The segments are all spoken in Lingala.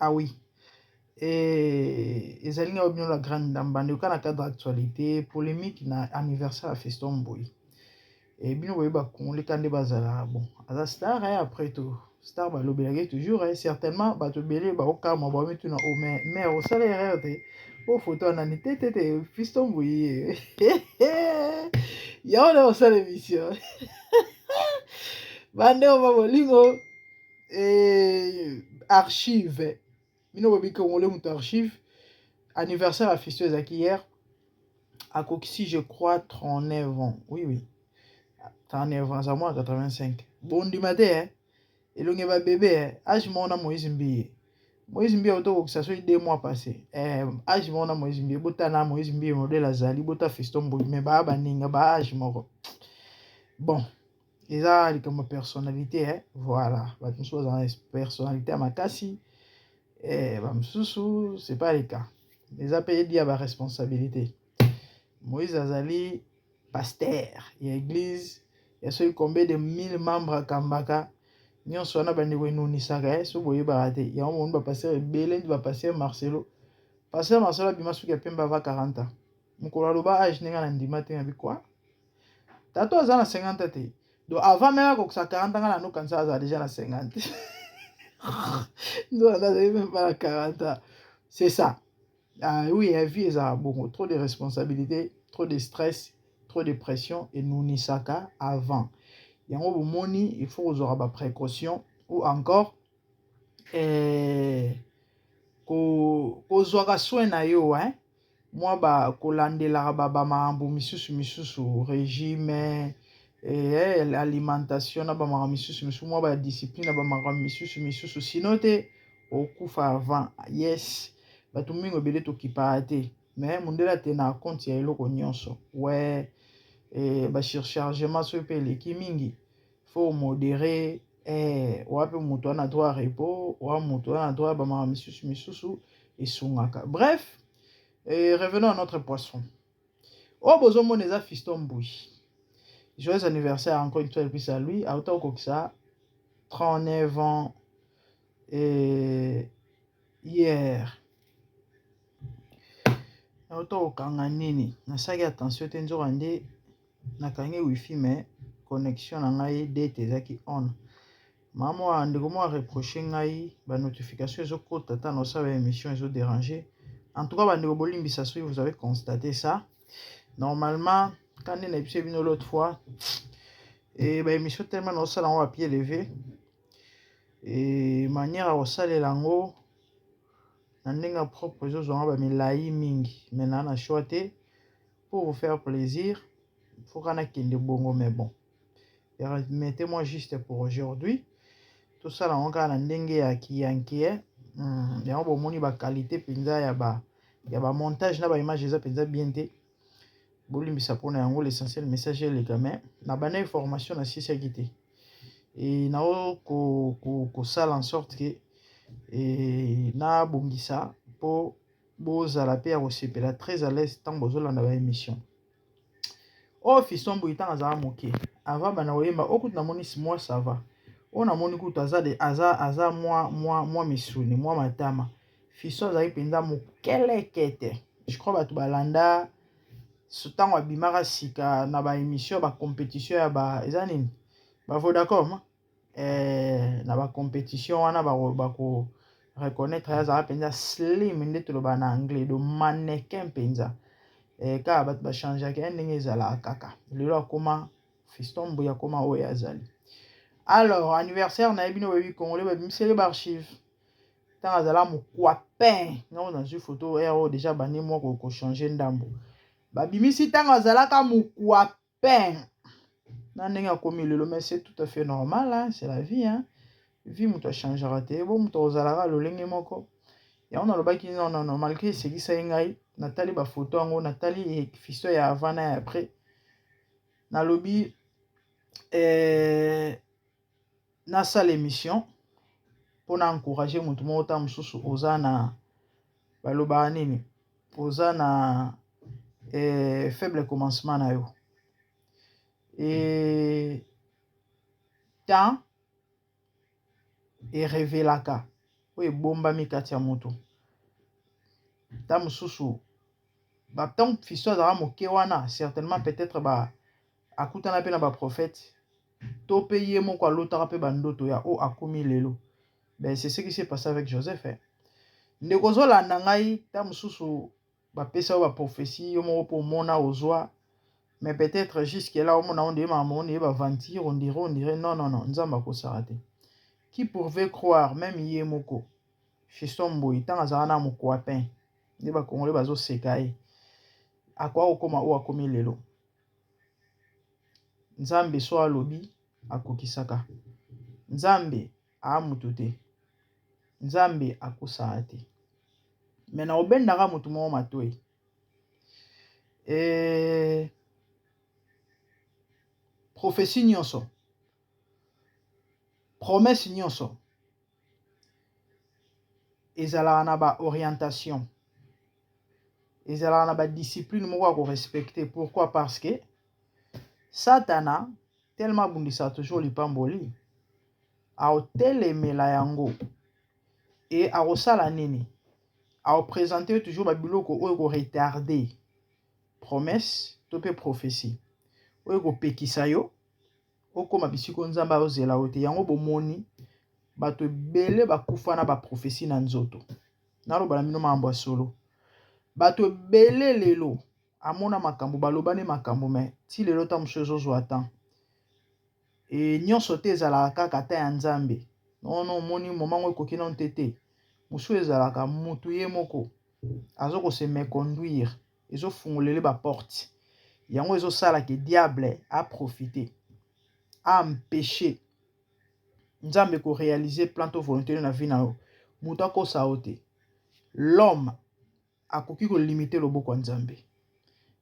Ah oui. Et ezali na bino la grande dame bande kana cadre actualité polemique na anniversaire ya Fiston Mboyi. Et bino boye ba congolais kande bazala bon. Aza star hein, après tout. Star ba lobelaki toujours hein, certainement bato belé ba okama ba mitu na oh mais mais au salaire erreur te. Oh photo anani te te te Fiston Mboyi. Yao na osala émission. Bande o ba bolingo. et archive bino bobi congolais moto archive anniversaire ya fisto ezalaki hier akokisi je crois 39 ans oui oui 39 ans aza mwa 85 bondima te eh? elongi ba bebe eh? age moko na moïse mbiye moïse mbiye auto kokisa soki deux mois passé eh, age moko na moïse mbiye bota na moïse mbiye modele azali bota fisto mboi me baa baninga ba age moko bon eza likambo ya personnalité eh? voilà bato mosusu bazala na personnalité ya makasi eh, bamosusu c'est pas le cas eza mpe edi ya baresponsabilité moïse azali pasteur ya église ya soki combien de mille membres akambaka nyonso wana bandeko enunisaka ye eh? soki boyebaka te yango moni bapasteur ebele ndi bapasteur marcelo pasteur marcelo abima soki ya pembe ava 40 ans mokolo aloba age ndenge na ndima te na bikwa Tata oyo aza na 50 ans te. Donc avant meme akokisa 40 ans nga na no kanisa aza deja na 50. Nzoka nde azali meme pas na 40 ans. C'est ça. Ah oui, la vie ezalaka bongo. Trop de responsabilités, trop de stress, trop de pression enunisaka avant. Yango bomoni il faut kozwaka ba précautions ou encore eh, ko, kozwaka soin na yo hein? mwa ba kolandelaka ba bamakambo misusu misusu regime eh, alimentation na bamakambo misusu misusu mwa ba discipline na bamakambo misusu misusu sino te okufa avant yes bato mingi ebele tokipaka te me mondele ate na compte ya eloko nyonso we eh, basurchargement soki mpe eleki mingi faut modere eh, wapi moto wana droit repos wa moto wana droit bamaka misusu misusu esungaka bref eh, revenons à notre poisson oyo oh, bozomona eza fiston mbui joyeux anniversaire encore une fois elpisi ya lui auta kokokisa 39 ans eh, hier auta kokanga nini nasalaki attention te nzoka nde nakangi wifi mais connexion na ngai date ezaki on mama mwa ndeko mwa reproche ngai ba notification ezokota ata na osala émission ezo dérange en tout cas bandeko bolimbisa soki vous avez constate ça normalement kande na ebise bino l'autre fois e ba émission tellement na osala yango bapie leve e manière ya kosalela yango na ndenge ya propre ezozwa yango bamilai mingi mai naa na choix te pour vous faire plaisir foka nakende bongo mais bon permettez moi juste pour aujourd'hui tosala yango kaka na ndenge ya kiyankie eh. hmm, yango bomoni bakalite mpenza ya ba ya bamontage na baimage eza mpenza bien te bolimbisa mpona yango l'essentiel message eleka mai na bandaki formation na sisiaki te e nao kosala ko, ko en sorte ke e, nabongisa mpo bozala pe ya kosepela très à l'aise ntango bozolanda ba émission oyo oh, fiston boye ntango azala moke avant banda koyemba oyo oh, kutu namoni mwa sava oyo oh, namoni kutu aza de aza aza mwa mwa mwa misuni mwa matama fiston azali mpenza mokelekete je crois bato balanda ntango abimaka sika na ba émission ba compétition ya ba eza nini bavo d'accord eh, na ba competition wana bako reconnaître ye azala mpenza slim nde toloba na anglais do mannequin mpenza eh, kaka bato bachangeaka ye ndenge ezalaka kaka lelo akoma fiston mbuya akoma oyo azali alors anniversaire na ye bino boyebi congolais babimiseli baarchive ntango azala mokwapin nao nazwi foto ero deja bande mwa kochange ndambo babimisi ntango azalaka mokwapin pain na ndenge akomi lelo mais c'est tout à fait normal hein? c'est la vie hein? vie moto achangeaka te bo moto akozalaka lolenge moko yango nalobaki non non non malgré esekisaki ngai natali bafoto yango natali fisto ya avant na ya après nalobi eh, nasala emission mpona encourage motu moko ta mosusu oza na balobaka nini oza na eh, faible commencement na yo e temps erevelaka oyo ebombami kati ya moto ta mosusu batango fiso azalaka moke wana certainement peut-être ba akutana pe na ba prophètes to pe ye moko alotaka pe ba ndoto ya oyo akomi lelo ben c'est ce qui s'est passe avec Joseph hein ndeko ozolanda ngai ta mosusu bapesa yo ba prophetie yo moko po omona ozwa mais peut-être jusque là omona onde ma monde ye ba aventure on dirait on dirait non non non nzambe akosaka te qui pouvait croire même ye moko Fiston Mboyi ntango azalaka na mokwapin nde bakongole bazoseka ye akoya kokoma oyo akomi lelo Nzambe soit alobi akokisaka nzambe aa moto te nzambe akosaa te me na obendaka moto moo matoi eh, profesi nyonso promese nyonso ezalaka na ba orientation ezalaka na ba discipline moko ya ko respecte pourquoi parce que satana telema abundisa toujours lipamboli aotelemela yango e akosala nini aopresente yo toujours babiloko oyo ekoretarde promesse to mpe prophesie oyo ekopekisa yo okoma bisika oyo Nzambe azozela yo te. Yango bomoni bato ebele bakufa na baprofesi na nzoto. Naloba na bino makambo ya solo, bato ebele lelo amona makambo balobani makambo me ti lelo ta mosusu ezozwa temps e nyonso te ezalaka kaka ta ya Nzambe nono omoni momango ekoki nano te te mosusu ezalaka motu ye moko azo kose meconduire ezofungolele baporte yango ezosala ke diable aprofite aampeche nzambe korealize plan to volonte na vi na yo moto akosa yo te lome akoki kolimite loboko ya nzambe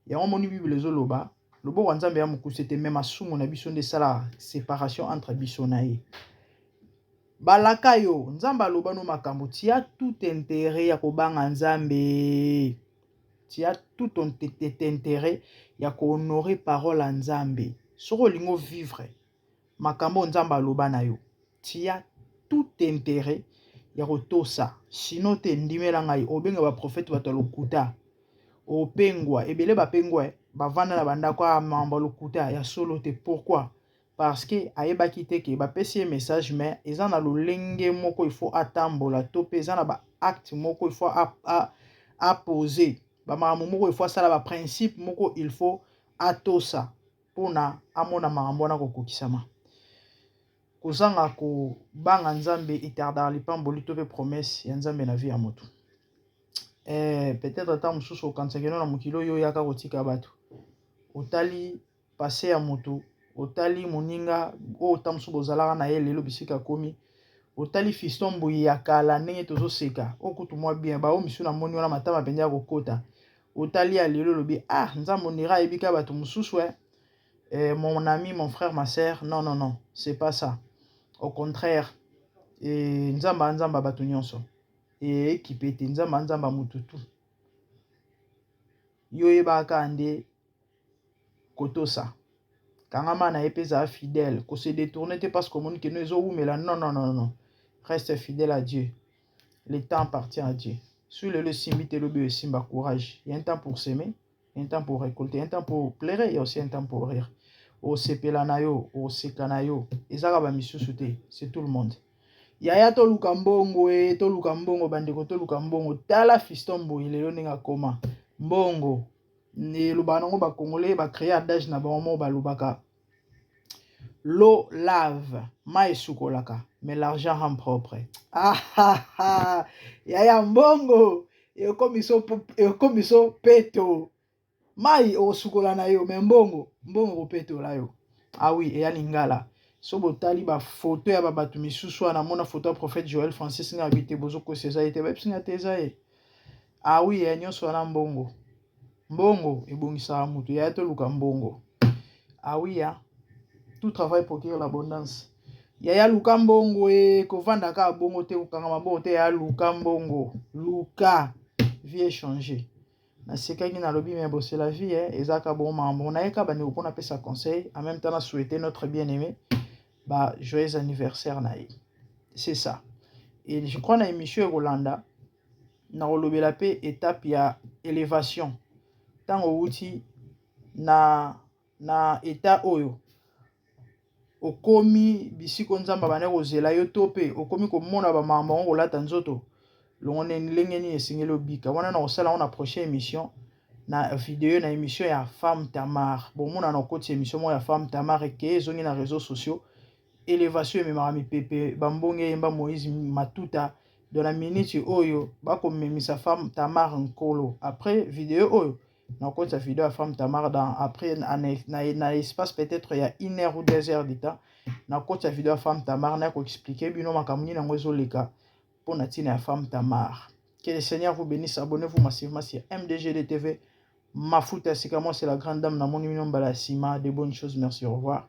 yango moni bibele ezoloba loboko ya nzambe ya mokuse te me masumu na biso nde esalaka separation entre biso na ye balaka yo nzambe aloba no makambo tia tout intere ya kobanga nzambe tu as tout ton intérêt ya ko honorer parole ya Nzambe soki olingi o vivre makambo oyo Nzambe aloba na yo tu as tout intérêt ya kotosa sinon te ndimela ngai obenga ba prophète bato ya lokuta opengwa ebele bapengwa bavanda na bandako ya mambo ya lokuta ya solo te pourquoi parce que ayebaki te que ba pesi ye message mais eza na lolenge moko il faut atambola to pe eza na ba acte moko il faut a, a, a poser ba makambo moko il faut asala ba principe moko il faut atosa pona amona makambo wana kokokisama kozanga kobanga nzambe etardaka lipamboli to pe promesse ya nzambe na vie ya moto eh, peut-être ata mosusu okanisaki no na mokili oyo oyaka kotika bato otali Passe ya mutu otali moninga oyo ta mosusu bozalaka na ye lelo bisika akomi otali fiston mbuyi ya kala ndenge tozoseka oyo kutu mwa bien baoyo misu na moni wana matama mpenza ya kokota otali ya lelo olobi ah nzambo nira ayebika bato mosusu e eh, mon ami mon frère ma sœur non non non c'est pas ça au contraire e nzambe anzamba bato nyonso ekipe te nzambe anzamba motu tu yo oyebaka nde kotosa kangama na ye mpe zala fidèle ko se détourner te parce que omoni keno ezowumela non non non non reste fidèle à Dieu le temps appartient à Dieu soki lelo esimbi te lobi oyo esimba courage il y a un temps pour s'aimer il y a un temps pour récolter il y a un temps pour pleurer il y a aussi un temps pour rire osepela na yo oseka na yo ezaka ba misusu te c'est tout le monde yaya toluka mbongo e toluka mbongo bandeko toluka mbongo tala fiston boye lelo ndenge akoma mbongo ne elobaka nango ba congolais ba créer adage na bango moko balobaka l'eau lave mai esukolaka mais l'argent rend propre ah, ah, ah. yaya mbongo ekomi so peto mai okosukola na yo me mbongo mbongo kopetola yo awi ah eya lingala so botali bafoto ya babato misusu wana mona foto ya prophète joel francis ngabi te bozokosa eza ye te bayebisi nga te eza ye Ah oui yaya nyonso wana mbongo mbongo ebongisaka moto yaya toluka mbongo ah oui ya tout travail procure l'abondance yaya luka mbongo e kovanda kaka bongo te kokangama bongo te yaya luka mbongo luka vie echange nasekaki nalobi me bose la vie eh, eza kaka bongo makambo nayeka bandeko mpo napesa conseil en même temps na souhaite notre bien aimé ba joyeux anniversaire na ye c'est ça et je crois na émission ekolanda nakolobela pe etape ya elevation tango owuti na na etat oyo okomi bisika oyo nzambe abandaki kozela yo to pe okomi komona ba makambo yango kolata nzoto longo nde ndenge nini esengeli obika wana na kosala yango na prochaine emission na video na emission ya femme tamar bomonana okoti emission moko ya femme tamar ekeye ezongi na reseau sociaux Elevation ememaka mipepe ba mbonge eyemba Moïse Matuta donc na minute oyo bakomemisa femme Tamar Nkolo après video oyo nakotisa video ya femme Tamar dans après na espace peut-être ya une heure ou deux heures du temps nakotisa video ya femme Tamar na koexplike bino makambo nini yango ezoleka mpo na ntina ya femme Tamar que le Seigneur vous bénisse abonnez-vous massivement sur MDGD TV Mafuta Sikamo c'est la grande dame namoni bino mbala ya nsima de bonnes choses merci au revoir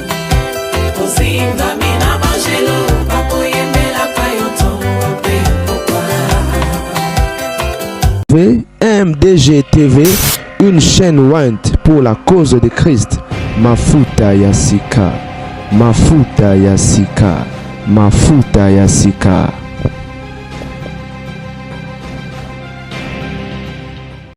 MDG TV, une chaîne Went pour la cause de Christ. Mafuta Yasika, Mafuta Yasika, Mafuta Yasika.